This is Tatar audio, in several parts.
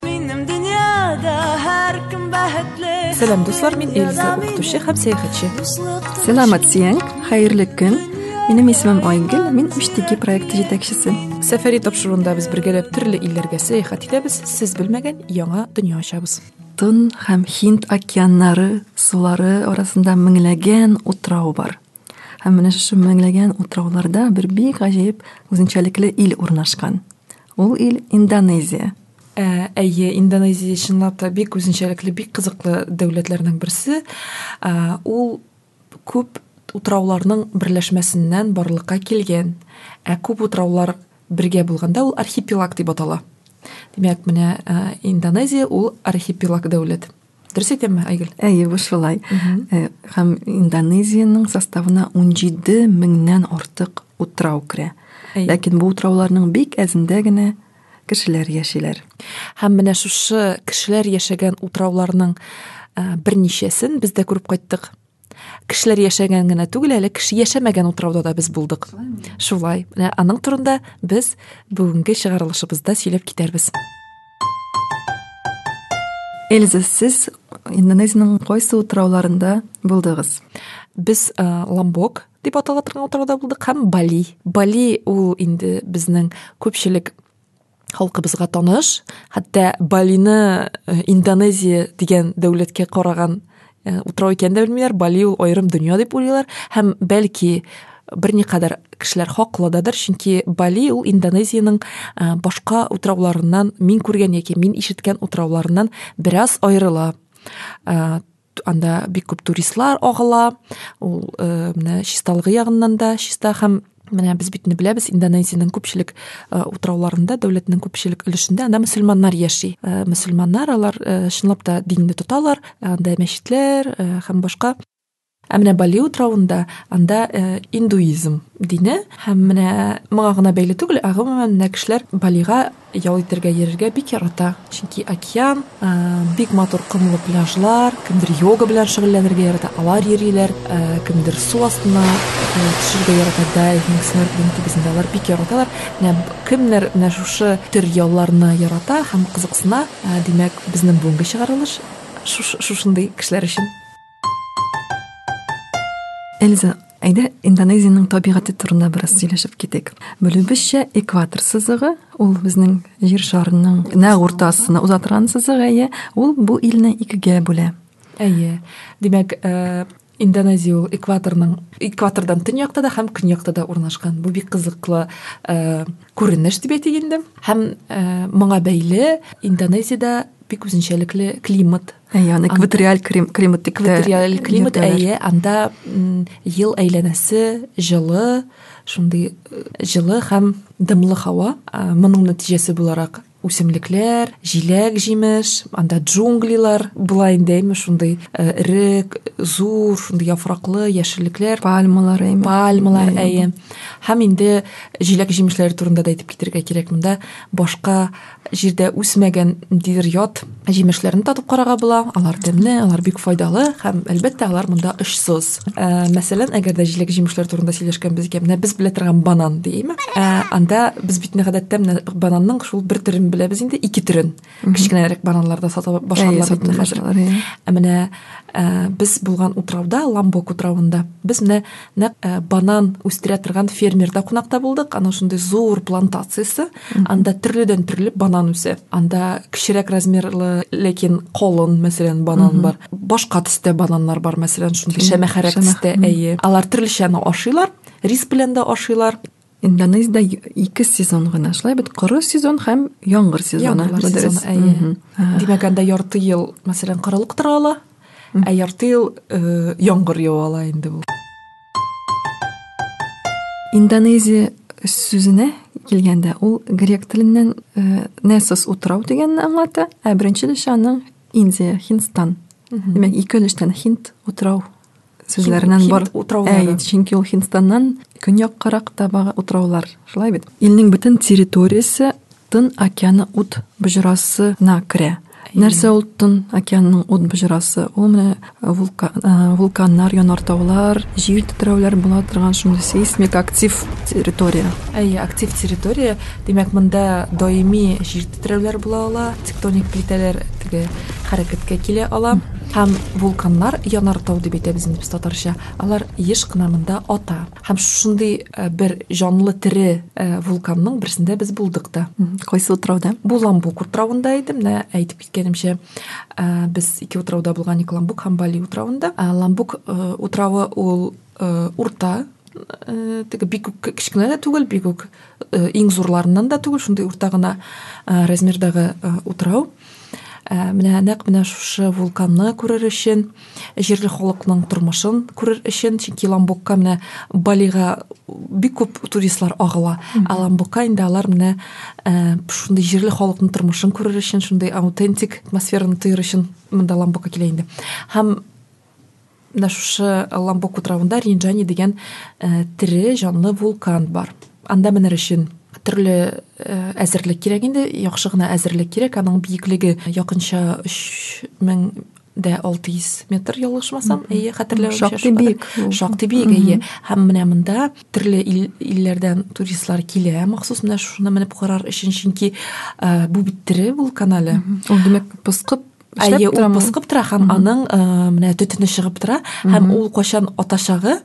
Минем дөньяда һәркем бәхетле. Сәлам дуслар, мин Эльза, укытучы һәм сәяхәтче. Сәламәт сиең, хәерле көн. Минем исемем Айгөл, мин Үштеки проекты җитәкчесе. Сәфәри тапшыруында без бергәләп төрле илләргә сәяхәт итәбез, сез белмәгән яңа дөнья ачабыз. Тон һәм Хинд океаннары сулары арасында меңләгән утрау бар. Һәм менә шушы меңләгән утрауларда бер бик гаҗәеп үзенчәлекле ил урнашкан. Ул ил Индонезия. Ә, әйе, Индонезия чынлап та бик үзенчәлекле, бик кызыклы дәүләтләрнең берсе. Ә, ул күп утрауларның берләшмәсеннән барлыкка килгән. Ә күп утраулар бергә булганда ул архипелаг дип атала. Димәк, менә ә, Индонезия ул архипелаг дәүләт. Дөрес әйтәмме, Айгөл? Әйе, бу шулай. Э, һәм Индонезиянең составына 17 меңнән артык утрау керә. Ләкин бу утрауларның бик әзендә генә кешеләр яшиләр. Һәм менә шушы кешеләр яшәгән утрауларның э, берничәсен без дә күреп кайттык. кешеләр яшәгән генә түгел әле кеше яшәмәгән утрауда да без булдык шулай менә аның турында без бүгенге чыгарылышыбызда сөйләп китәрбез эльза сез индонезиянең кайсы утрауларында булдыгыз без э, ламбок дип атала торган утрауда булдык һәм бали бали ул инде безнең күпчелек халкыбызга таныш, хәтта Балины э, Индонезия дигән дәүләткә караган э, утрау икәнен дә белмиләр, Бали ул аерым дөнья дип уйлыйлар һәм бәлки берникадәр кешеләр хаклададыр, чөнки Бали ул Индонезиянең э, башка утрауларыннан, мин күргән яки мин ишеткән утрауларыннан бераз аерыла. анда бик күп туристлар агыла ул э, менә чисталыгы ягыннан да чиста һәм менә без бит инде беләбез индонезиянең күпчелек э, утрауларында дәүләтнең күпчелек өлешендә анда мөселманнар яши э, мөселманнар алар э, чынлап та динне тоталар анда мәчетләр һәм башка ә менә бали утравында анда индуизм дине һәм менә моңа гына бәйле түгел ә гомумән менә кешеләр балига Ял итәргә йөрергә бик ярата, чөнки океан, бик матур комлы пляжлар, кемдер йога белән шөгыльләнергә ярата, алар йөриләр, кемдер су астына төшәргә ярата, дайвинг, снорклинг кебесендә алар бик яраталар. Менә кемнәр менә шушы төр ялларны ярата һәм кызыксына, димәк, безнең бүгенге чыгарылыш шушындый кешеләр өчен. Эльза, Әйдә, Индонезиянең табигате турында бераз сөйләшеп китик. Белүебезчә, экватор сызыгы, ул безнең җир шарының нәкъ уртасына уза торган сызык, әйе, ул бу илне икегә бүлә. Әйе. Димәк, э, Индонезия ул экваторның экватордан төньякта да һәм көньякта да урнашкан. Бу бик кызыклы э, күренеш дип әйтик инде. Һәм э, моңа бәйле Индонезиядә бик үзенчәлекле климат Әйе, аны экваториаль климат дип Экваториаль климат, әйе, анда ел әйләнәсе җылы, шундый э, җылы һәм дымлы һава. Моның нәтиҗәсе буларак үсемлекләр, җиләк, җимеш, анда джунглилар була инде, әйме, шундый э, эрек, зур, шундый яфраклы яшеллекләр, пальмалар, әйме. Пальмалар, әйе. Һәм инде җиләк җимешләре турында да әйтеп китергә кирәк монда. Башка җирдә үсмәгән ниндидер ят җимешләрне татып карарга була. Алар тәмле, алар бик файдалы һәм, әлбәттә, алар монда очсыз. Ә, мәсәлән, әгәр дә җиләк җимешләр турында сөйләшкәнбез икән, менә без белә торган банан дияме? Ә, анда без бит гадәттә менә бананның шул бер төрен беләбез инде, ике төрен. Кечкенәрәк бананларда сата башладылар бит хәзер. Ә менә ә, без булган утрауда, Ламбок утравында, без менә нәкъ э, банан үстерә торган фермерда кунакта булдык анау шундый зур плантациясе анда төрледән төрле банан үсә анда кечерәк размерлы ләкин колын мәсәлән банан бар башка төстә бананнар бар мәсәлән шундый шәмәхәрәк төстә әйе алар төрлечәне ашыйлар рис белән дә ашыйлар Индонезиядә ике сезон гына шулай бит коры сезон һәм яңгыр сезоны. Яңгыр сезоны, әйе. Димәк, анда ярты ел, мәсәлән, корылык тора ала, ә ярты ел э, яңгыр ява ала инде бу. Индонезия сүзенә килгәндә, ул грек теленнән э, несос утрау дигәнне аңлата, ә беренче лешаның Индия, Хинстан. Димәк, ике өлештән Хинд утрау сүзләреннән бар утраулары чөнки ул һиндстаннан көньяккарак та бага утраулар шулай бит илнең бөтен территориясе тын океаны ут боҗрасына керә нәрсә ул тын океанның ут боҗрасы ул менә вулка, ә, вулканнар янартаулар җир тетрәүләр була торган шундый сейсмик актив территория әйе актив территория димәк монда даими җир тетрәүләр була ала тектоник плитәләр теге хәрәкәткә килә ала Һәм вулканнар янар тау дип әйтәбез инде без татарча, алар еш кына монда ата. Һәм шушындый бер җанлы тере вулканның берсендә без булдык та. Кайсы утрауда? Бу Ламбук утравында иде. Менә әйтеп киткәнемчә, без ике утрауда булган идек, Ламбук һәм Бали утравында. Ламбук утравы ул урта, теге бик үк кечкенә дә түгел, бик үк Э, иң зурларыннан да түгел шундый урта гына э, размердагы э, утрау менә нәкъ менә шушы вулканны күрер өчен җирле халыкның тормышын күрер өчен чөнки ламбукка менә балига бик күп туристлар агыла ә ламбукка инде алар менә шундый җирле халыкның тормышын күрер өчен шундый аутентик атмосфераны тоер өчен монда ламбукка килә инде һәм менә шушы ламбоку травында ринджани дигән э, тере җанлы вулкан бар анда менер өчен төрле э, әзерлек кирәк инде яхшы гына әзерлек кирәк аның биеклеге якынча өч мең дә 600 метр ялгышмасам әйе хәтерләвемчә шактый биек шактый биек әйе һәм менә монда төрле илләрдән туристлар килә махсус менә шуны менеп карар өчен чөнки э, бу бит тере вулкан әле ул димәк пыскып Әйе, ул пыскып тора һәм аның э, менә төтене чыгып тора һәм ул кайчан атачагы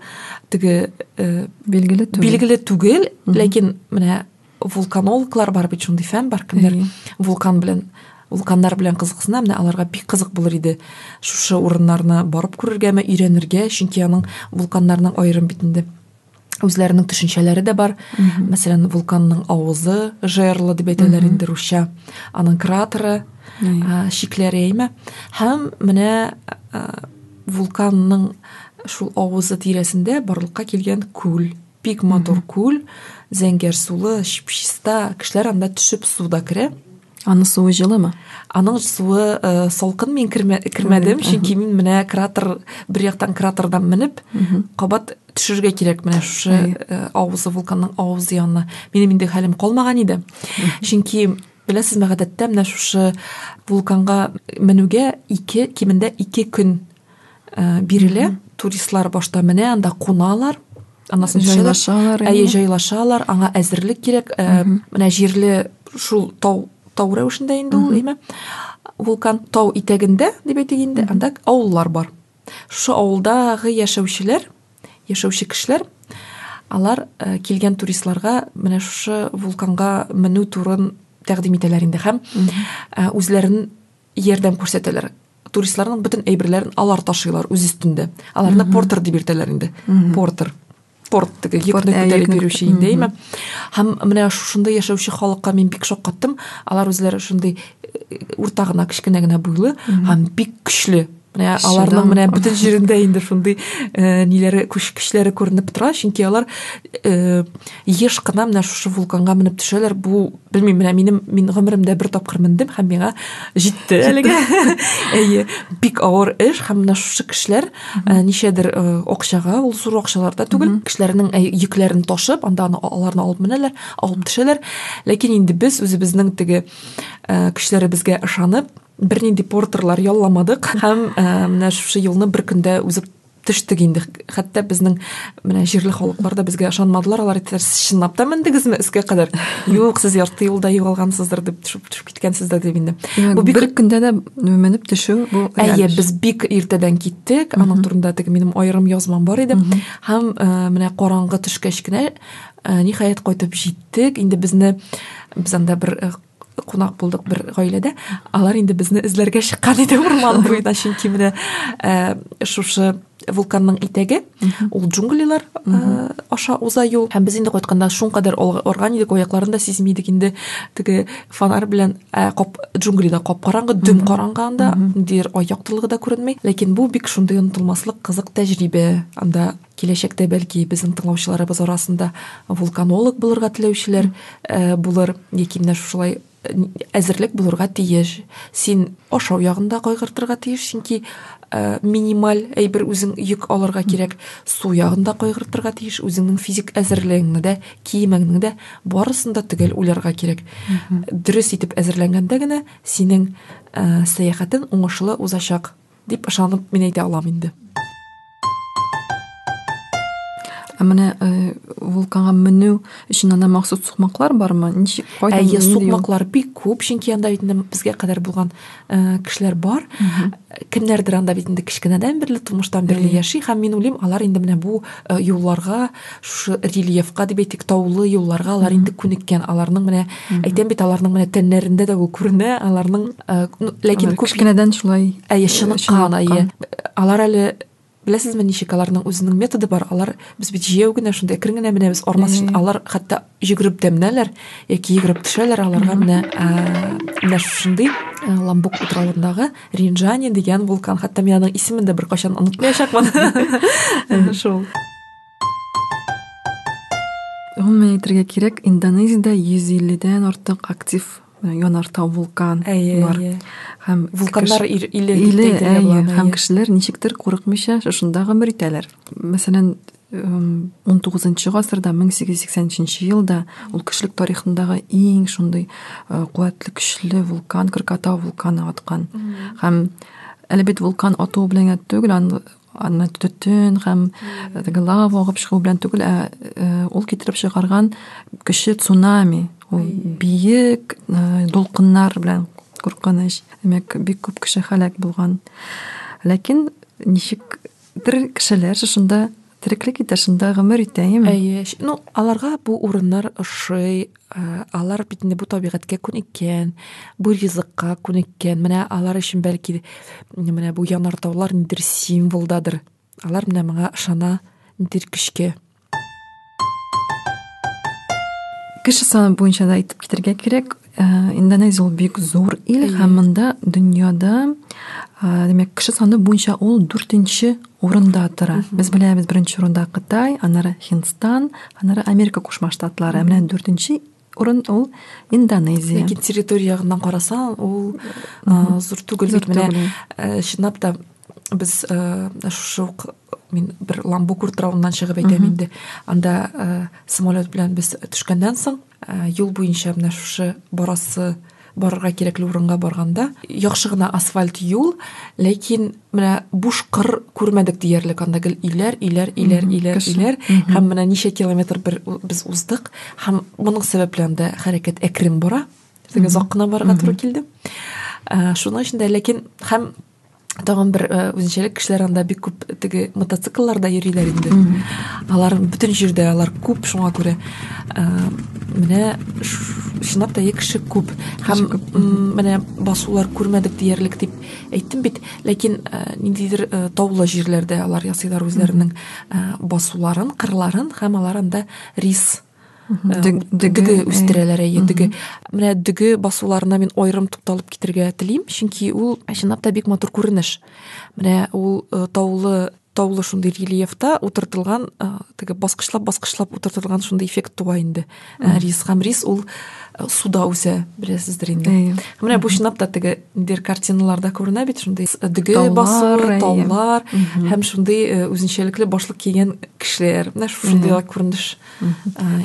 теге э, билгеле түгел. Билгеле түгел, ләкин менә вулканологлар бар бит шундый фән бар кемдер вулкан белән вулканнар белән кызыксына менә аларга бик кызык булыр иде шушы урыннарны барып күрергәме өйрәнергә чөнки аның вулканнарның аерым бит инде үзләренең төшенчәләре дә бар. Мәсәлән, вулканның авызы жерлы дип әйтәләр инде русча. Аның кратеры, шикләре әйме. Һәм менә вулканның шул авызы тирәсендә барлыкка килгән күл, бик матур күл, зәңгәр сулы, чиста, кешеләр анда төшеп суда керә. Аның суы җылымы? Аның суы э, салкын мин кермә, кермәдем, чөнки мин менә кратер бер яктан кратердан менеп, кабат төшергә кирәк менә шушы э, авызы вулканның авызы янына. Минем инде хәлем калмаган иде. Чөнки беләсезме, гадәттә менә шушы вулканга менүгә ике кимендә ике көн э, бирелә туристлар башта менә анда куналар анасын җайлашалар әйе җайлашалар аңа әзерлек кирәк э, менә җирле шул тау тау рәвешендә инде ул әйме вулкан тау итәгендә дип әйтик инде анда авыллар бар шушы авылдагы яшәүчеләр яшәүче кешеләр алар э, килгән туристларга менә шушы вулканга менү турын тәкъдим итәләр инде һәм э, үзләрен ярдәм күрсәтәләр туристларның бөтен әйберләрен алар ташыйлар үз өстендә аларны портер дип йөртәләр инде портер порт йөкне күтәреп йөрүче инде әйме һәм менә шушында яшәүче халыкка мин бик шаккаттым алар үзләре шундый э, урта гына кечкенә генә буйлы һәм бик көчле Ә, аларның менә бөтен җирендә инде шундый э, ниләре күч көчләре күренеп тора чөнки алар э, еш кына менә шушы вулканга менеп төшәләр бу белмим менә минем мин гомеремдә бер тапкыр мендем һәм миңа җитте әлегә әйе бик авыр эш һәм менә шушы кешеләр э, ничәдер э, акчага ул зур акчалар да түгел кешеләрнең э, йөкләрен ташып анда аны, аларны алып менәләр алып төшәләр ләкин инде без үзебезнең теге э, көчләребезгә ышанып Бернинди портерлар ялламадык һәм э, менә шушы юлны бер көндә узып төштек инде хәтта безнең менә җирле халыклар да безгә ышанмадылар алар әйттеләр сез чынлап та мендегезме өскә кадәр юк сез ярты юлда югалгансыздыр дип төшеп төшеп киткәнсездер дип инде бу бик бер көндә дә менеп төшү бу әйе без бик иртәдән киттек аның турында теге минем аерым язмам бар иде һәм э, менә караңгы төшкәч кенә э, ниһаять кайтып җиттек инде безне без анда бер э, кунак булдык бер гаиләдә алар инде безне эзләргә чыккан иде урман буена чөнки менә э, шушы вулканның итәге ул джунглилар э, аша уза юл һәм без инде кайтканда шуңкадәр арган идек аякларын да сизми идек инде теге фонарь белән э, кап джунглида кап караңгы дөм караңгы анда ниндидер ай яктылыгы да күренми ләкин бу бик шундый онытылмаслык кызык тәҗрибә анда Киләчәктә, бәлки, безнең тыңлаучыларыбыз арасында вулканолог булырга теләүчеләр э, булыр, яки менә шушылай әзерлек булырга тиеш син ашау ягында кайгыртырга тиеш чөнки ә, минималь әйбер үзең йөк алырга кирәк су ягында кайгыртырга тиеш үзеңнең физик әзерлегеңне дә киемеңне дә барысын да төгәл уйларга кирәк дөрес итеп әзерләнгәндә генә синең ә, сәяхәтең уңышлы узачак Дип ышанып мин әйтә алам инде. Ә менә э, вулканга менү өчен анда махсус сукмаклар бармы? Ничек кайда? Әйе, сукмаклар бик күп, чөнки анда бит безгә кадәр булган э, кешеләр бар. Кемнәрдер анда бит инде кечкенәдән бирле, тумыштан бирле яши һәм мин уйлыйм, алар инде менә бу э, юлларга шушы рельефка дип әйтик таулы юлларга алар инде күнеккән аларның менә әйтәм бит аларның менә тәннәрендә дә ул күренә аларның э, ләкин күп кенәдән шулай әйе чыныккан әйе алар әле беләсезме ничек аларның үзенең методы бар алар без бит җәяү генә шунда әкрен генә менәбез армас өчен алар хәтта йөгереп тә менәләр яки йөгереп төшәләр аларга менә менә шушындый ламбук утравындагы ринжани дигән вулкан хәтта мин аның исемен дә беркайчан онытмаячакмын шул Гомумән әйтергә кирәк, Индонезиядә 150-дән артык актив э, янартау вулкан әйе, бар. Әйе. Һәм вулканнар кеш... иле, иле әйе, һәм кешеләр ничектер курыкмыйча шушында гомер итәләр. Мәсәлән, 19 гасырда 1883 елда ул кешелек тарихындағы иң шундый э, куәтле көчле вулкан Кракатау вулканы аткан. Һәм әле бит вулкан атуы белән генә түгел, аны төтен һәм теге лава агып чыгу белән түгел, ә э, ул китереп чыгарган кеше цунами, ул биек э, дулкыннар белән куркыныч. Димәк, бик күп кеше һәлак булган. Ләкин ничек тер кешеләр шунда тереклек итә, шунда гомер итә, яме? Әйе. Ну, аларга бу урыннар ошый, Э, алар бит инде бу табигатькә күнеккән бу ризыкка күнеккән менә алар өчен бәлки менә бу янартаулар нидер символдадыр алар менә моңа ышана нидер көчкә кеше саны буенча да әйтеп китәргә кирәк э, индонезия ул бик зур ил һәм монда дөньяда э, димәк кеше саны буенча ул дүртенче урында тора. Без беләбез беренче урында Кытай, аннары Һиндстан, аннары Америка Кушма Штатлары. Ә менә дүртенче урын ул Индонезия. Ләкин территория ягыннан карасаң, ул э, зур түгел. Зур менә э, чынлап та без э, шушы ук мин бер Ламбук утравыннан чыгып әйтәм инде. Анда самолет белән без төшкәннән соң Ә, юл буенча менә шушы барасы барырга кирәкле урынга барганда яхшы гына асфальт юл ләкин менә буш кыр күрмәдек диярлек анда гел өйләр өйләр өйләр өйләр өйләр һәм менә ничә километр бер без уздык һәм моның сәбәпле анда хәрәкәт әкрен бара теге озак кына барырга туры килде ә, шуның өчен дә ләкин һәм тагын бер э, үзенчәлек кешеләр анда бик күп теге мотоциклларда йөриләр инде алар бөтен җирдә алар күп шуңа күрә э, менә чынлап та кеше күп һәм менә басулар күрмәдек диярлек дип әйттем бит ләкин э, ниндидер таулы җирләрдә алар ясыйлар үзләренең басуларын кырларын һәм алар анда рис дөге үстерәләр әйе дөге менә дөге басуларына мин аерым тукталып китергә телим чөнки ул чынлап та бик матур күренеш менә ул э, таулы таулы шундый рельефта утыртылган э, теге баскычлап баскычлап утыртылган шундый эффект туа инде э, рис һәм рис ул суда үсә беләсездер инде менә бу чынлап та теге Бер картиналарда күренә бит шундый э, дөге басуы, таулар һәм шундый э, үзенчәлекле башлык кигән кешеләр. Менә шундый күренеш.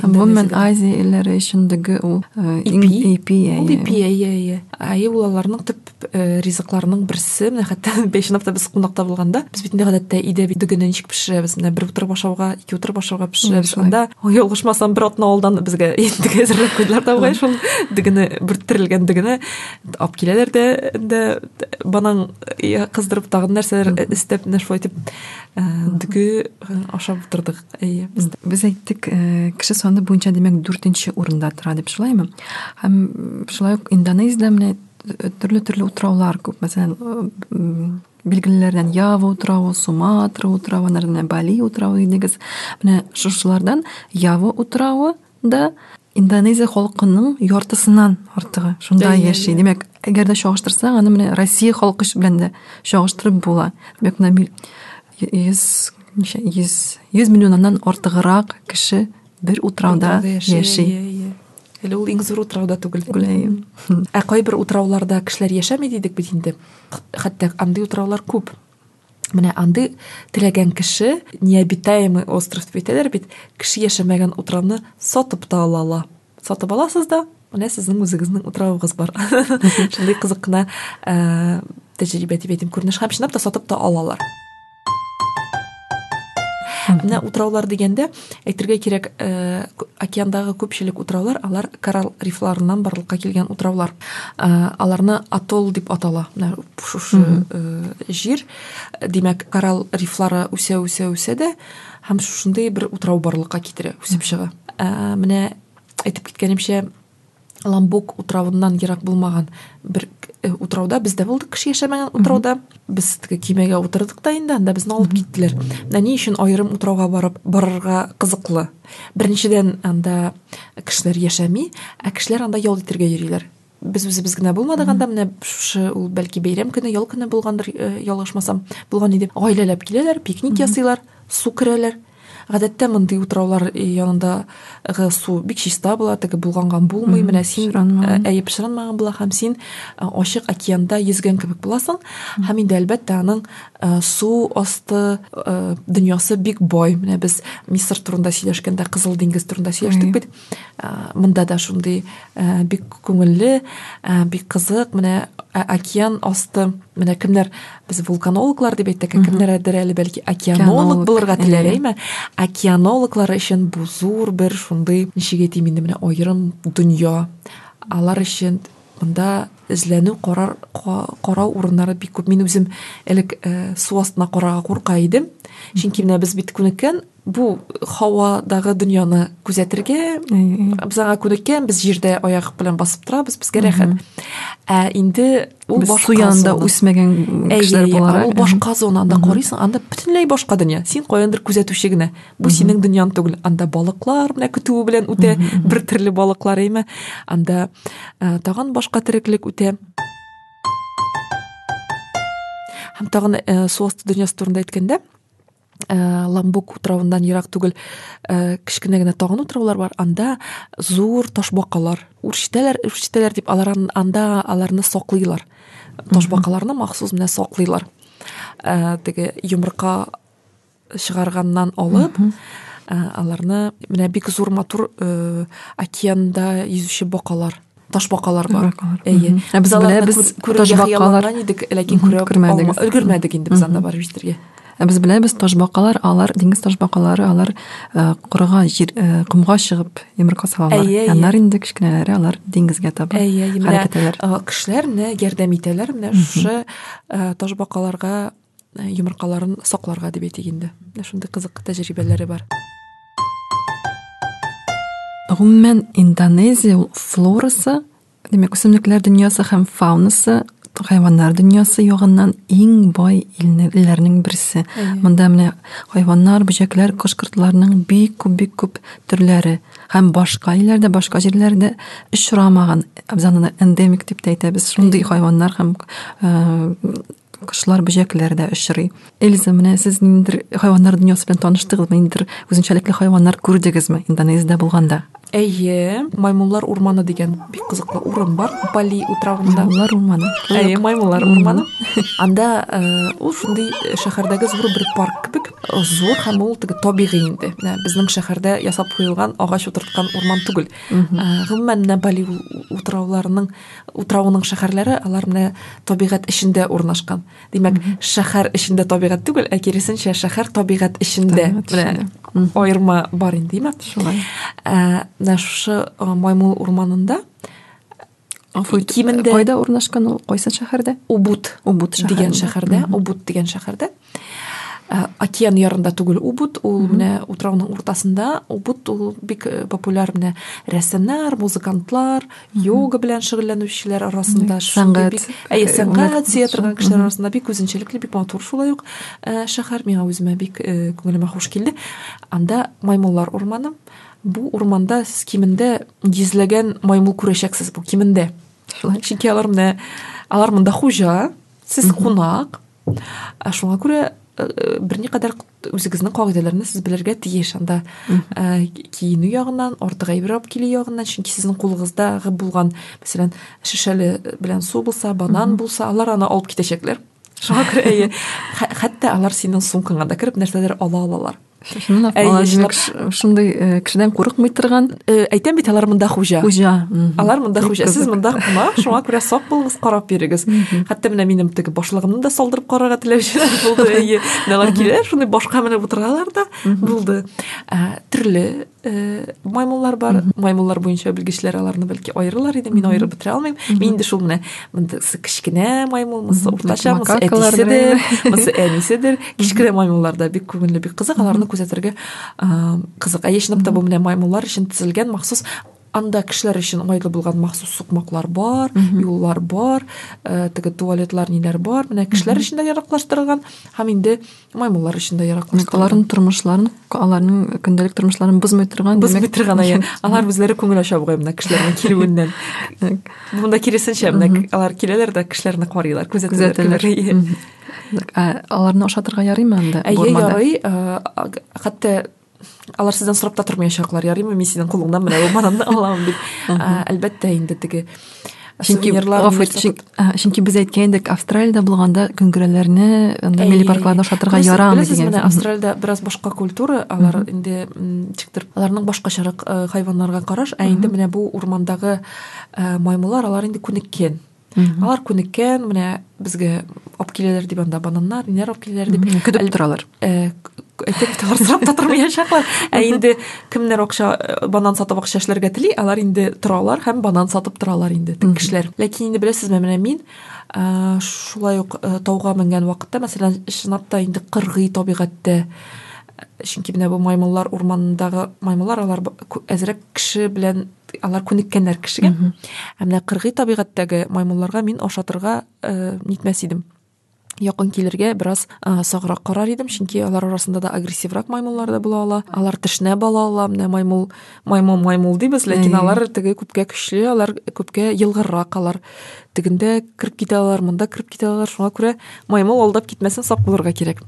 Гомумән Азия илләре өчен дөге ул э, ипи. Ипи, ипи, әйе, әйе. Әйе, ул аларның төп ризыкларының берсе. Менә хәтта Бәйшинапта без кунакта булганда, без бит гадәттә өйдә бит дөгене ничек пешерәбез? Менә бер утырып ашауга, ике утырып ашауга пешерәбез. Анда ялгышмасам, бер атна алдан безгә инде әзерләп куйдылар да, шул дөгене, бөрттерелгән дөгене алып киләләр дә дә банан кыздырып тагын нәрсәләр эстәп менә шулай итеп дөге ашап утырдык әйе без әйттек кеше саны буенча димәк дүртенче урында тора дип шулаймы һәм шулай ук индонезиядә менә төрле төрле утраулар күп мәсәлән билгелеләрдән ява утравы суматра утравы бали утравы дигез менә шушылардан ява утравы да Индонезия халкының яртысынан артыгы шунда яши. Димәк, әгәр дә чагыштырсаң, аны менә Россия халкы белән дә чагыштырып була. Димәк, менә 100 100 100 миллионнан артыграк кеше бер утрауда яши. Әле ул иң зур утрауда түгел. Беләем. Ә кайбер утрауларда кешеләр яшәми дидек бит инде. Хәтта андый утраулар күп. Менә андый теләгән кеше необитаемый остров дип әйтәләр бит, кеше яшәмәгән утравны сатып та ала ала. Сатып аласыз да, менә сезнең үзегезнең утравыгыз бар. Шундый кызык кына э, тәҗрибә дип әйтим, күренеш һәм чынлап та сатып та алалар. Менә утраулар дигәндә, Әйтергә кирәк, э, океандагы күпчелек утраулар, алар коралл рифларыннан барлыкка килгән утраулар. Э, аларны атолл дип атала. Менә шушы э, җир, димәк, коралл рифлары үсә, үсә, үсә дә һәм шушындый бер утрау барлыкка китерә, үсеп чыга. Э, менә әйтеп киткәнемчә, ламбук утравыннан ерак булмаган бер э, утрауда без дә булдык кеше яшәмәгән утрауда без теге кимәгә утырдык та инде анда безне алып киттеләр менә ни өчен аерым утрауга барып барырга кызыклы беренчедән анда кешеләр яшәми ә кешеләр анда ял итәргә йөриләр без үзебез генә булмадык анда менә шушы ул бәлки бәйрәм көне ял көне булгандыр э, ялгышмасам булган иде гаиләләп киләләр пикник ясыйлар су керәләр Гадәттә мондый утраулар янындагы су бик чиста була, теге булганган булмый. Менә син әйе пешеренмәгән була һәм син ачык океанда йөзгән кебек буласың. Һәм инде әлбәттә аның су асты дөньясы бик бай. Менә без Мисыр турында сөйләшкәндә, Кызыл диңгез турында сөйләштек бит. монда да шундый бик күңелле бик кызык менә океан асты менә кемнәр без вулканологлар дип әйттек кемнәрдер әле бәлки океанолог булырга теләр әйме океанологлар өчен бу зур бер шундый ничек әйтим инде менә аерым дөнья алар өчен монда эзләнү карар карау урыннары бик күп мин үзем элек су астына карарга курка идем чөнки менә без бит күнеккән бу һавадагы дөньяны күзәтергә без аңа күнеккән без җирдә аяк белән басып торабыз безгә рәхәт ә инде ул башка янда үсмәгән кешеләр буларак ул башка зонада карыйсың анда бөтенләй башка дөнья син каяндыр күзәтүче генә бу синең дөньяң түгел анда балыклар менә көтүе белән үтә бер төрле балыклар әйме анда тагын башка тереклек үтә һәм тагын су асты дөньясы турында әйткәндә ә, ламбук утравыннан ерак түгел ә, кечкенә генә тагын утраулар бар анда зур ташбакалар үрчетәләр үрчетәләр дип алар анда аларны саклыйлар ташбакаларны махсус менә саклыйлар ә, теге йомырка чыгарганнан алып ә, аларны менә бик зур матур ә, океанда йөзүче бакалар ташбакалар бар әйе ә без беләбез ташбакалар идек ләкин күрә алмадык өлгермәдек инде без анда барып җитәргә ә без беләбез ташбакалар алар диңгез ташбакалары алар э, корыга җир э, комга чыгып йомырка салалар аннар инде кечкенәләре алар диңгезгә таба хәрәкәт итәләр э, кешеләр менә ярдәм итәләр менә шушы ташбакаларга Э, йомыркаларын сакларга дип әйтик инде менә шундый кызык тәҗрибәләре бар гомумән индонезия флорасы демәк үсемлекләр дөньясы һәм фаунасы хайваннар дөньясы ягыннан иң бай илләрнең берсе монда менә хайваннар бөҗәкләр кош кортларның бик күп бик күп төрләре һәм башка илләрдә башка җирләрдә очрамаган абзаны эндемик дип тә әйтәбез шундый хайваннар һәм э, кошлар, бөҗәкләр дә очрый. Эльза, менә сез ниндидер хайваннар дөньясы белән таныштыгызмы? Ниндидер үзенчәлекле хайваннар күрдегезме Индонезиядә булганда? Әйе, Маймуллар урманы дигән бик кызыклы урын бар. Бали утравында. Маймуллар урманы. Әйе, Маймуллар урманы. Анда э, ул шундый э, шәһәрдәге зур бер парк кебек. Э, зур һәм ул теге табигый инде. Безнең шәһәрдә ясап куелган агач утырткан урман түгел. Гомумән, Бали утрауларының Утрауның шәһәрләре алар менә табигать эчендә урнашкан. Димәк, шәһәр эчендә табигать түгел, ә киресенчә шәһәр табигать эчендә. Менә аерма бар инде, димәк. Шулай. Ә, менә шушы Маймыл урманында Афуй кимендә кайда урнашкан ул? Кайсы шәһәрдә? Убут. Убут шәһәре. Дигән шәһәрдә, Убут дигән шәһәрдә. Э, океан ярында түгел убуд ул менә утрауның уртасында убуд ул бик э, популяр менә рәссамнар музыкантлар йога белән шөгыльләнүчеләр арасында сәнгать әйе сәнгать сөя торган кешеләр арасында бик үзенчәлекле бик матур шулай ук э, шәһәр миңа үземә бик күңелемә хуш килде анда маймыллар урманы бу урманда сез кимендә йөзләгән маймыл күрәчәксез бу кимендә чөнки алар менә алар монда хуҗа сез кунак Ә шуңа күрә э, берникадәр үзегезнең кагыйдәләрне сез белергә тиеш анда э, киенү ягыннан артык әйбер алып килү ягыннан чөнки сезнең кулыгыздагы булган мәсәлән шешәле белән су булса банан булса алар аны алып китәчәкләр шуңа күрә әйе хәтта алар синең сумкаңа да кереп нәрсәдер ала алалар чынлап чынлап шундый э, кешедән курыкмый торган э, әйтәм бит алар монда хуҗа хуҗа алар монда хуҗа сез монда кунак шуңа күрә сак булыгыз карап бирегез хәтта менә минем теге башлыгымны да салдырып карарга теләүчеләр булды әйе алар киләләр шундый башка менеп утыралар да булды э, төрле Э, маймыллар бар маймыллар буенча белгечләр аларны бәлки аерылар иде мин аерып бетерә алмыйм мин инде шул менә мындысы кечкенә маймыл мысы уртача мысы әтиседер мысы әниседер кечкенә маймыллар да бик күңелле бик кызык аларны күзәтергә кызык ә чынлап та бу менә маймыллар өчен төзелгән махсус анда кешеләр өчен уңайлы булган махсус сукмаклар бар юллар бар э, теге туалетлар ниләр бар менә кешеләр өчен дә яраклаштырылган һәм инде маймыллар өчен дә яраклы аларның тормышларын аларның көндәлек тормышларын бозмый торган бозмый торган иә алар үзләре күңел ача бугай мына кешеләрнең килүеннән монда киресенчә менә алар киләләр дә кешеләрне карыйлар күзәтәләр иә. аларны ашатырга ярыймы анда әйе ярый хәтта алар сездән сорап та тормаячаклар ярыймы мин синең кулыңнан менә бу бананны алам дип әлбәттә инде теге чөнки чөнки без әйткән идек австралиядә булганда көңгерәләрне анда милли паркларда ашатырга ярамый дигән менә австралиядә бераз башка культура алар инде ничектер аларның башкачарак хайваннарга караш ә инде менә бу урмандагы маймыллар алар инде күнеккән алар күнеккән менә безгә алып киләләр дип анда бананнар ниләр алып киләләр дип көтеп торалар әйтеп торалар сорап та тормаячаклар ә инде кемнәр акча банан сатып акча эшләргә тели алар инде торалар һәм банан сатып торалар инде теге кешеләр ләкин инде беләсезме менә мин шулай ук тауга менгән вакытта мәсәлән чынлап та инде кыргый табигатьтә чөнки менә бу маймыллар урманындагы маймыллар алар әзрәк кеше белән алар күнеккәннәр кешегә ә менә кыргый табигатьтәге маймылларга мин ашатырга э, нитмәс идем якын килергә бераз ә, саграк карар идем чөнки алар арасында да агрессиврак маймыллар да була ала алар тешнә бала ала менә маймыл маймыл маймыл дибез ләкин алар теге күпкә көчле алар күпкә елгыррак алар тегендә кереп китә алар монда кереп китә алар шуңа күрә маймыл алдап китмәсен сак булырга кирәк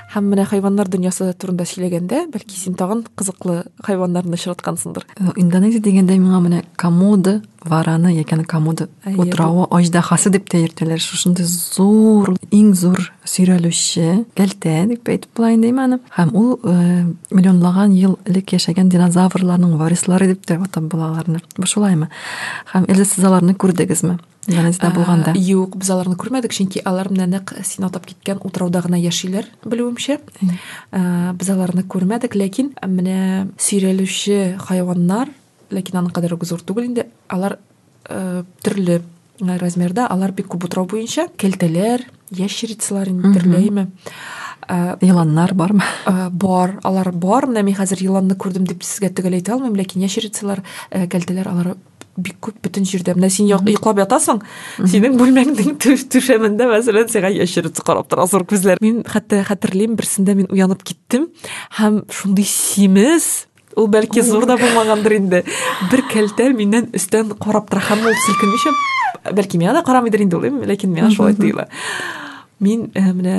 һәм менә хайваннар дөньясы турында сөйләгәндә бәлки син тагын кызыклы хайваннарны очраткансыңдыр индонезия дигәндә миңа менә комоды вараны яки комоды утравы аждаһасы дип тә йөртәләр шушындый зур иң зур сөйрәлүче кәлтә дип әйтеп була инде аны һәм ул э, миллионлаган ел элек яшәгән динозаврларның варислары дип тә атап була аларны шулаймы һәм эле сез аларны күрдегезме Индонезиядә э, булганда. Юк, без аларны күрмәдек, чөнки алар менә нәкъ син атап киткән утрауда гына яшиләр, белүемчә. Э, без аларны күрмәдек, ләкин менә сөйрәлүче хайваннар, ләкин аның кадәр үк зур түгел инде, алар э, төрле размерда, алар бик күп утрау буенча, кәлтәләр, ящерицалар инде төрләйме. Э, еланнар бармы э, бар алар бар менә мин хәзер еланны күрдем дип сезгә төгәл әйтә алмыйм ләкин ящерицалар э, кәлтәләр алар бик күп бөтен җирдә менә син йоклап ятасың синең бүлмәңнең түшәмендә мәсәлән сиңа ящерица карап тора зур күзләр мин хәтта хәтерлим берсендә мин уянып киттем һәм шундый симез ул бәлки зур да булмагандыр инде бер кәлтә миннән өстән карап тора һәм ул селкенмичә бәлки миңа да карамыйдыр инде ул ләкин миңа шулай тоела мин э, менә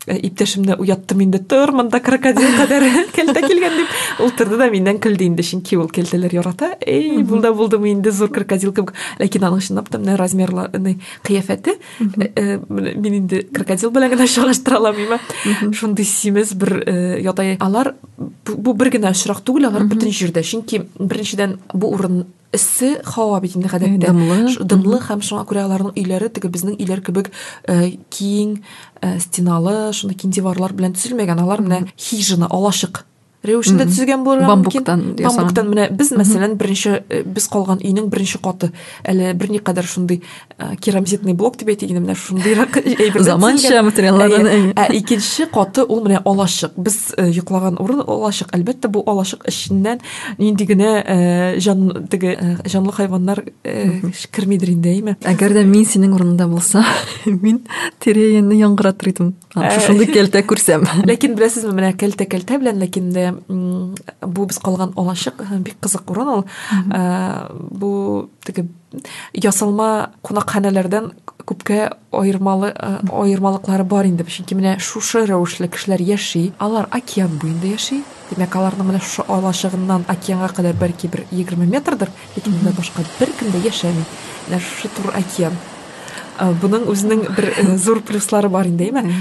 Э, иптәшемне уяттым инде тор монда крокодил кадәр кәлтә килгән дип ул торды да миннән көлде инде чөнки ул кәлтәләр ярата эй булда булдымы инде зур крокодил кебек ләкин аның чынлап та менә размерларны кыяфәте э, э, мин инде крокодил белән генә чагыштыра алмыйм шундый симез бер ятай алар бу бер генә очрак түгел алар бөтен җирдә чөнки беренчедән бу урын эссе һава бит инде гадәттә дымлы дымлы һәм шуңа күрә аларның өйләре теге безнең өйләр кебек э, киң э, стеналы шундый киң диварлар белән төзелмәгән алар менә хижина алачык рәвешендә төзегән булырга бамбуктан мөмкин. бамбуктан менә без мәсәлән беренче э, без калган өйнең беренче каты әле берникадәр шундый Ә, керамзитный блок дип әйтик инде менә шундыйрак әйберләр заманча материаллардан ә, ә икенче каты ул менә алачык без э, йоклаган урын алачык әлбәттә бу алачык эченнән нинди генә э, җан теге э, җанлы хайваннар кермидер инде әйме әгәр дә мин синең урыныңда булса мин тирәенне яңгыратыр идем шушындый кәлтә күрсәм ләкин беләсезме менә кәлтә кәлтә белән ләкин дә бу без калган алачык бик кызык урын ул бу теге ясалма кунакханәләрдән күпкә аермалы э, аермалыклары бар инде чөнки менә шушы рәвешле кешеләр яши алар океан буенда яши димәк аларның менә шушы алачыгыннан океанга кадәр бәлки бер егерме метрдыр ләкин монда башка беркем дә яшәми менә шушы тур океан э, буның үзенең бер э, зур плюслары бар инде әйме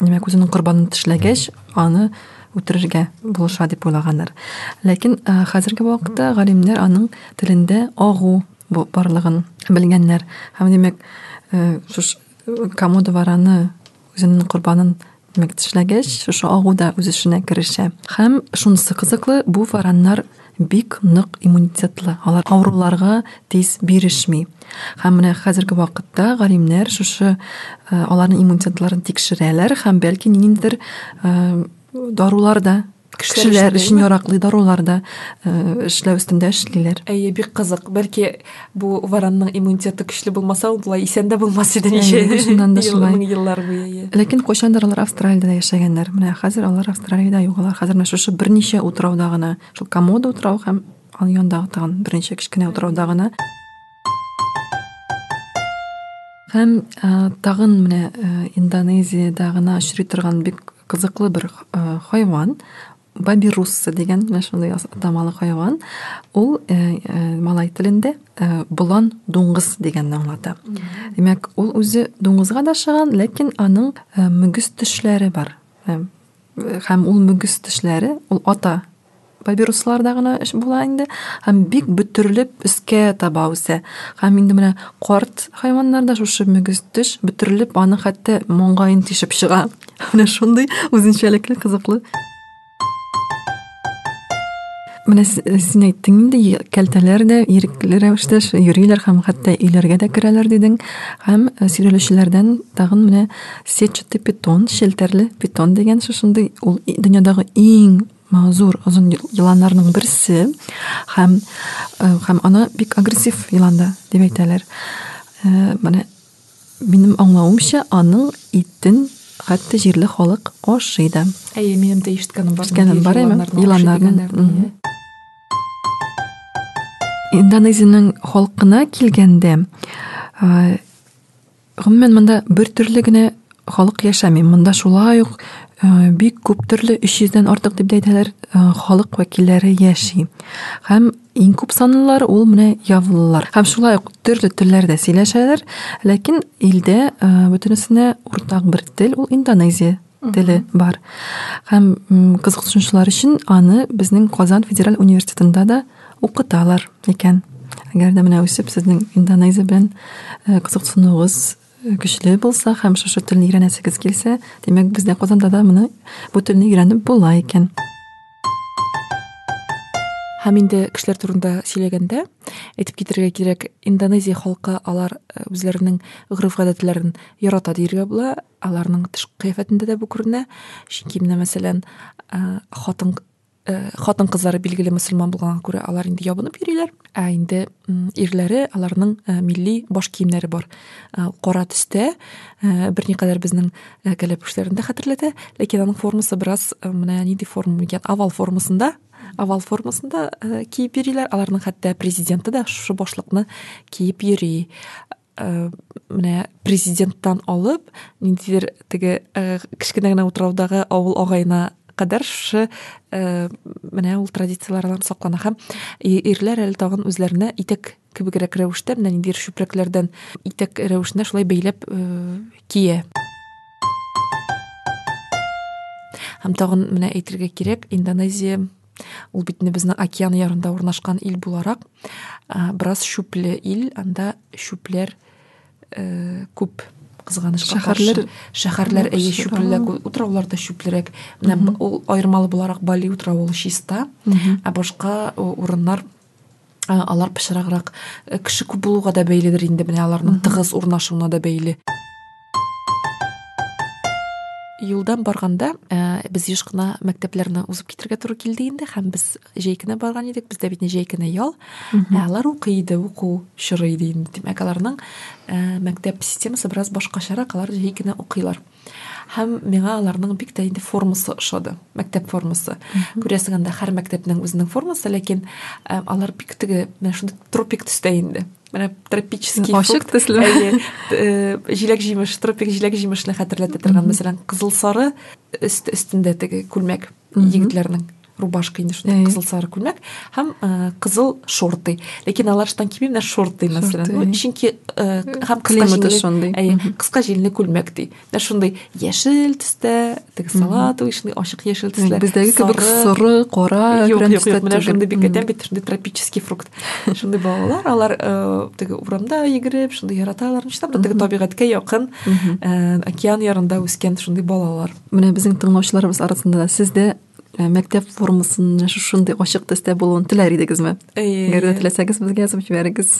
Димәк, үзенең корбанын тешләгәч, аны үтерергә булыша дип уйлаганнар. Ләкин э, хәзерге вакытта галимнәр аның телендә агу барлыгын белгәннәр. Һәм димәк, э, шуш э, комода вараны үзенең корбанын димәк тешләгәч, шушы агу да үз эшенә керешә. Һәм шунысы кызыклы, бу вараннар бик нык иммунитетлы, алар авыруларга тиз бирешми. Һәм менә хәзерге вакытта галимнәр шушы э, аларның иммунитетларын тикшерәләр һәм бәлки ниндидер э, дарулар да кешеләр өчен яраклы дарулар да э, эшләү өстендә эшлиләр. Әйе, бик кызык. Бәлки Бу варанның иммунитеты көчле булмаса, ул болай исән дә булмас иде ничә шуннан да шулай. Еллар буе. Ләкин кайчандыр алар Австралиядә яшәгәннәр. Менә хәзер алар Австралиядә юк. Алар хәзер менә шушы берничә утрауда гына, шул Комода утрау һәм аның янындагы тагын берничә кечкенә утрауда гына. Һәм ә, тагын менә ә, Индонезиядә гына очрый торган бик кызыклы бер ә, хайван. Бабирусса дигән менә шундый атамалы хайван. Ул э, э, малай телендә э, болан дуңгыз дигәнне аңлата. Димәк, ул үзе дуңгызга да шыган, ләкин аның э, мөгез тешләре бар. Э, һәм ул мөгез тешләре, ул ата папирусларда гына эш була инде һәм бик бөтерелеп өскә таба үсә һәм инде менә карт хайваннарда шушы мөгез теш бөтерелеп аны хәтта маңгаен тишеп чыга Менә шундый үзенчәлекле кызыклы. Менә син әйттең инде, кәлтәләр дә ирекле рәвештә йөриләр һәм хәтта өйләргә дә керәләр дидең. Һәм э, сөйрәлүчеләрдән тагын менә сетчатый питон, челтәрле питон дигән шушындый ул дөньядагы иң зур озын еланнарның берсе һәм э, һәм аны бик агрессив елан да дип әйтәләр. Э, менә Минем аңлавымча, аның итен хәтта җирле халык ашый да. Әйе, минем дә ишеткәнем бар. Ишеткәнем бар, әйме? Еланнарның. Индонезиянең халкына килгәндә, гомумән монда бер төрле генә халык яшәми. Монда шулай ук э, бик күп төрле 300-дән артык дип әйтәләр э, халык вәкилләре яши. Һәм иң күп санлылар ул менә явылылар. Һәм шулай ук төрле телләрдә сөйләшәләр, ләкин илдә э, бөтенесенә уртак бер тел ул индонезия теле бар. Һәм кызыксынучылар өчен аны безнең Казан федераль университетында да укыталар икән. Әгәр дә менә үсеп сезнең индонезия белән кызыксынуыгыз көчле булса һәм шушы телне өйрәнәсегез килсә, димәк, бездә Казанда да моны бу телне өйрәнеп була икән. Һәм инде кешеләр турында сөйләгәндә, әйтеп китерергә кирәк, Индонезия халкы алар э, үзләренең гореф-гадәтләрен ярата диергә була. Аларның тышкы кыяфәтендә дә бу күренә. Чөнки менә мәсәлән, э, хатын Э, хатын кызлары билгеле мөселман булганга күрә алар инде ябынып йөриләр ә инде ирләре аларның э, милли баш киемнәре бар э, кара төстә берникадәр безнең кәләпүшләрен дә хәтерләтә ләкин аның формасы бераз менә нинди форма икән овал формасында овал формасында киеп йөриләр аларның хәтта президенты да шушы башлыкны киеп йөри Э, менә президенттан алып ниндидер теге э, кечкенә генә утраудагы авыл агаена кадәр шушы э, менә ул традицияләр алан саклана һәм ирләр әле тагын үзләренә итәк кебегрәк рәвештә менә ниндидер чүпрәкләрдән итәк рәвешенә шулай бәйләп кия һәм тагын менә әйтергә кирәк индонезия Ул бит инде безнең океан ярында урнашкан ил буларак, ә, бераз шүпле ил, анда шүпләр э, күп кызганычка шәһәрләр шәһәрләр әйе шүплерәк утраулар да шүплерәк менә ул аермалы буларак бали утравы ул чиста ә башка урыннар алар пычраграк э, кеше күп булуга да бәйледер инде менә аларның тыгыз урнашуына да бәйле юлдан барганда ә, без еш кына мәктәпләрне узып китергә туры килде инде һәм без җәйкенә барган идек бездә бит җәйкенә ял ә алар укый иде уку чоры иде инде димәк аларның ә, мәктәп системасы бераз башкачарак алар җәйкенә укыйлар Һәм миңа аларның бик тә инде формасы ошады, мәктәп формасы. Күрәсең, анда һәр мәктәпнең үзенең формасы, ләкин э, алар бик теге, менә шундый тропик төстә инде. Менә тропический ашык төсле. Әйе, э, җиләк-җимеш, тропик җиләк-җимешне хәтерләтә торган, мәсәлән, кызыл-сары өст өстендә теге күлмәк егетләрнең. рубашка инде шундай кызыл сары күлмәк һәм э, кызыл шорты ләкин алар штан кимемнәр шорты мәсәлән ну чөнки э, һәм климаты шундый әйе кыска җилне күлмәк ди менә шундый яшел төстә теге салатовый шундый ачык яшел төсләр бездәге кебек соры кара юк юк юк менә шундый бик әтәм бит шундый тропический фрукт шундый балалар алар э, теге урамда йөгереп шундый яраталар чынлап та теге табигатькә якын океан ярында үскән шундый балалар менә безнең тыңлаучыларыбыз арасында да сездә Э, мәктәп формасының шушындый ачык төстә булуын теләр идегезме әгәр дә теләсәгез безгә язып җибәрегез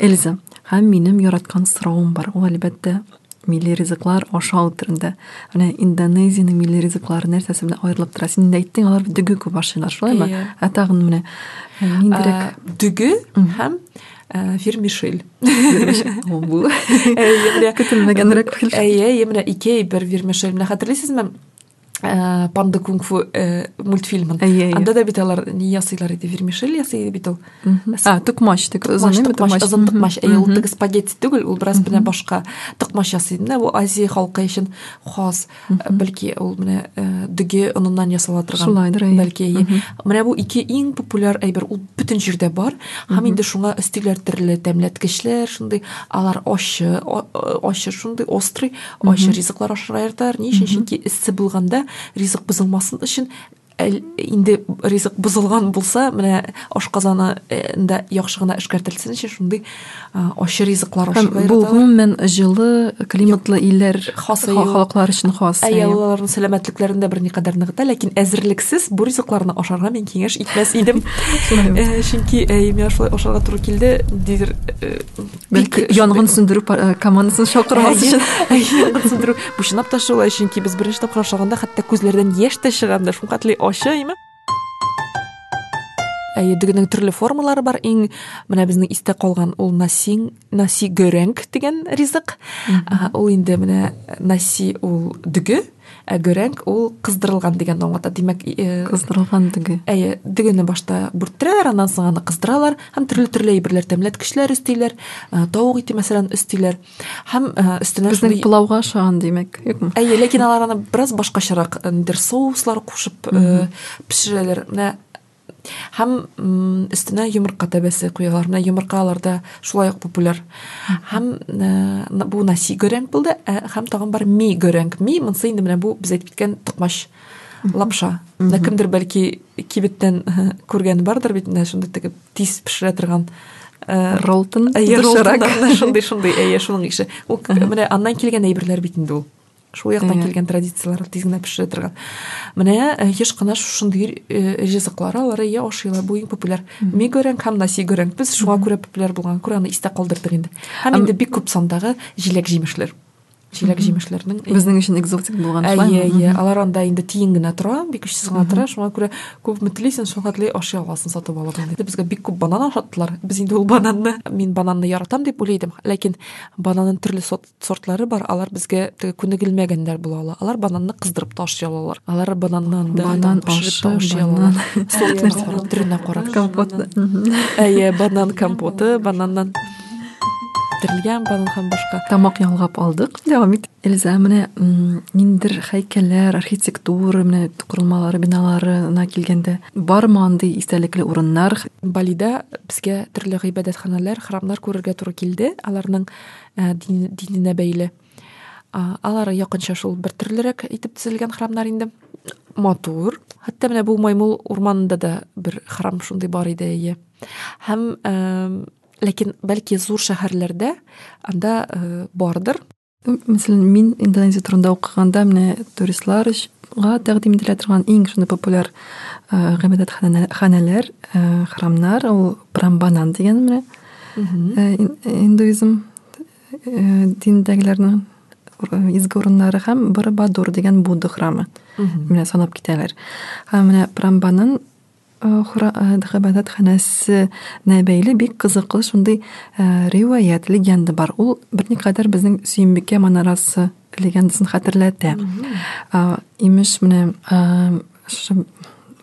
эльза һәм минем яраткан соравым бар ул әлбәттә милли ризыклар ашау төрендә менә индонезиянең милли ризыклары нәрсәсе белән аерылып тора син инде әйттең алар дөге күп ашыйлар шулаймы ә тагын менә ниндирәк дөге һәм Ә, вермишель. Ул бу. Әйе, көтелмәгәнрәк килде. Әйе, менә ике әйбер вермишель. Менә хәтерлисезме? Ә, панда кунг фу э, мультфильмын. Әйе, әйе. Анда да бит алар ни ясыйлар иде? Вермишель ясый иде бит ул. А, тукмач, тик озын име тукмач? Озын тукмач. Әйе, ул тик спагетти түгел, ул бераз менә башка. Тукмач ясый. Менә бу Азия халкы өчен хас. бәлки ул менә дөге оныннан ясала торган шулайдыр бәлки менә бу ике иң популяр әйбер ул бөтен җирдә бар һәм инде шуңа өстиләр төрле тәмләткечләр шундый алар ачы ачы шундый острый ачы ризыклар ашарга яраталар ни өчен чөнки эссе булганда ризык бозылмасын өчен инде ризык бозылган булса менә ашказанында яхшы гына эшкәртелсенче шундый ачы ризыклар ашарга бу гомумән җылы климатлы илләр халыклар өчен хас ә яулыларның сәламәтлекләрен дә берникадәр ныгыта ләкин әзерлексез бу ризыкларны ашарга мин киңәш итмәс идем чөнки әйе миңа шулай ашарга туры килде дидер Бәлки янгын сүндерү э, командасын чакырмас өчен. Янгын сүндерү. Бу чынлап та шулай, чөнки без беренче тапкыр ашаганда хәтта күзләрдән яшь тә чыгарды. Шул катлы ачы име? Әйе, дөгенең төрле формалары бар. Иң менә безнең истә калган ул насин, наси горенг дигән ризык. Ул инде менә наси ул дөге, Ә гөрәнг ул кыздырылган дигәнне аңлата. Димәк, э, кыздырылган дөге. Әйе, дөгене башта бүрттерәләр, аннан соң аны кыздыралар һәм төрле-төрле әйберләр тәмләткечләр өстиләр, э, тавык ите мәсәлән өстиләр. Һәм э, өстенә безнең шундый... пылауга ошаган димәк, юкмы? Әйе, ләкин алар аны бераз башкачарак, нидер соуслар кушып, пешерәләр. Менә һәм өстенә йомырка тәбәсе куялар менә йомырка аларда шулай ук популяр һәм э, бу наси горәнг булды э, һәм тагын бар ми горәнг ми монысы инде менә бу без әйтеп киткән токмач лапша менә кемдер бәлки кибеттән э, күргән бардыр бит менә шундый тегеп тиз пешерә торган ролтон шундый шундый әйе шуның ише ул менә аннан килгән әйберләр бит инде ул шул яктан килгән традицияләрне тиз генә пешерә торган менә э, еш кына шушындый э, ризыклар алар иә ашыйлар бу иң популяр мигоренг һәм насигоренг без шуңа күрә популяр булган күрә аны истә калдырдык инде һәм инде бик күп сандагы җиләк җимешләр җиләк җимешләрнең безнең өчен экзотик булган шулай иә иә алар анда инде тиен генә тора бик көчсез генә тора шуңа күрә күпме телисең шуңа теләй ашый аласың сатып алып инде безгә бик күп банан ашаттылар без инде ул бананны мин бананны яратам дип уйлый идем ләкин бананның төрле сорт сортлары бар, алар безгә теге күнегелмәгәннәр була ала. Алар бананны кыздырып та ашый алалар. Алар бананнан да банан пешереп та ашый алалар. Сортларына төренә карап. Компот. Әйе, банан компоты, бананнан пешерелгән банан һәм башка. Тамак ялгап алдык. Дәвам ит. Эльза, менә ниндер һәйкәлләр, архитектура, менә корылмалары, биналарына килгәндә, бармы андый истәлекле урыннар? Балида безгә төрле гыйбадәтханәләр, храмнар күрергә туры килде. Аларның ә, дин, диненә бәйле. Ә, алар якынча шул бер төрлерәк итеп төзелгән храмнар инде. Матур. Хәтта менә бу Маймул урманында да бер храм шундый бар иде, әйе. Һәм ә, ләкин бәлки зур шәһәрләрдә анда ә, бардыр. Мәсәлән, мин Индонезия турында укыганда менә туристлар га тәкъдим ителә торган иң шуны популяр э, гыйбадәтханәләр э, храмнар ул прамбанан дигән менә Э, индуизм э, диндәгеләрнең изге урыннары һәм Барабадур дигән Будда храмы. Менә санап китәләр. Һәм менә Прамбаның хәбәтханәсенә бәйле бик кызыклы шундый риваять, легенда бар. Ул берникадәр безнең Сөембикә манарасы легендасын хәтерләтә. Имеш менә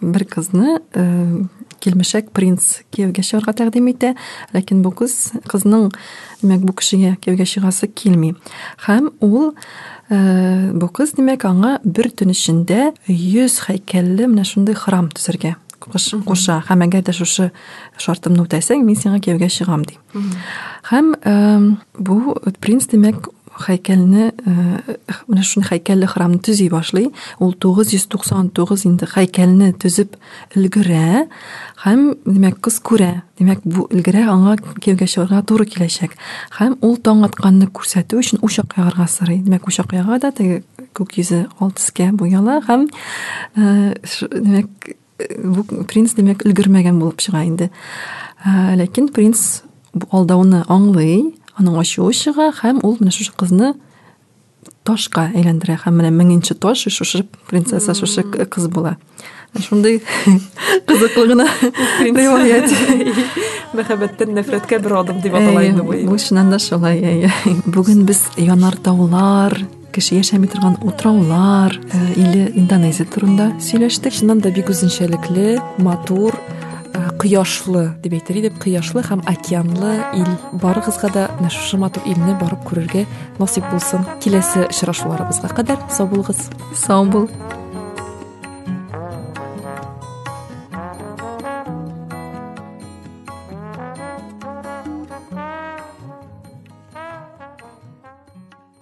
бер кызны килмешәк принц кияүгә чыгарга тәкъдим итә, ләкин бу кыз кызның димәк бу кешегә кияүгә чыгасы килми. Һәм ул э, бу кыз димәк аңа бер төн эчендә 100 һәйкәлле менә шундый храм төзергә куша. Һәм әгәр дә шушы шартымны үтәсәң, мин сиңа кияүгә чыгам ди. Һәм бу принц димәк хәйкәлне менә шуны хәйкәлле храмны төзи башлый. Ул 999 инде хәйкәлне төзеп өлгерә һәм димәк кыз күрә. Димәк бу өлгерә аңа кияүгә чыгарга туры киләчәк. Һәм ул таң атканны күрсәтү өчен учак ягарга сорый. Димәк учак яга да теге күк йөзе алтыскә буяла һәм димәк Бу принц димәк өлгермәгән булып чыга инде. Ә, ләкин принц алдауны аңлый, аның ачуы чыга һәм ул менә шушы кызны ташка әйләндерә һәм менә меңенче таш шушы принцесса шушы кыз була шундый кызыклы гына риваять мәхәббәттән нәфрәткә бер адым дип атала инде бу чыннан да шулай бүген без янар таулар кеше яшәми торган утраулар э, или индонезия турында сөйләштек чыннан да бик үзенчәлекле матур э, кояшлы дип әйтер идек кояшлы һәм океанлы ил барыгызга да менә шушы матур илне барып күрергә насыйп булсын киләсе очрашуларыбызга кадәр сау булыгыз сау бул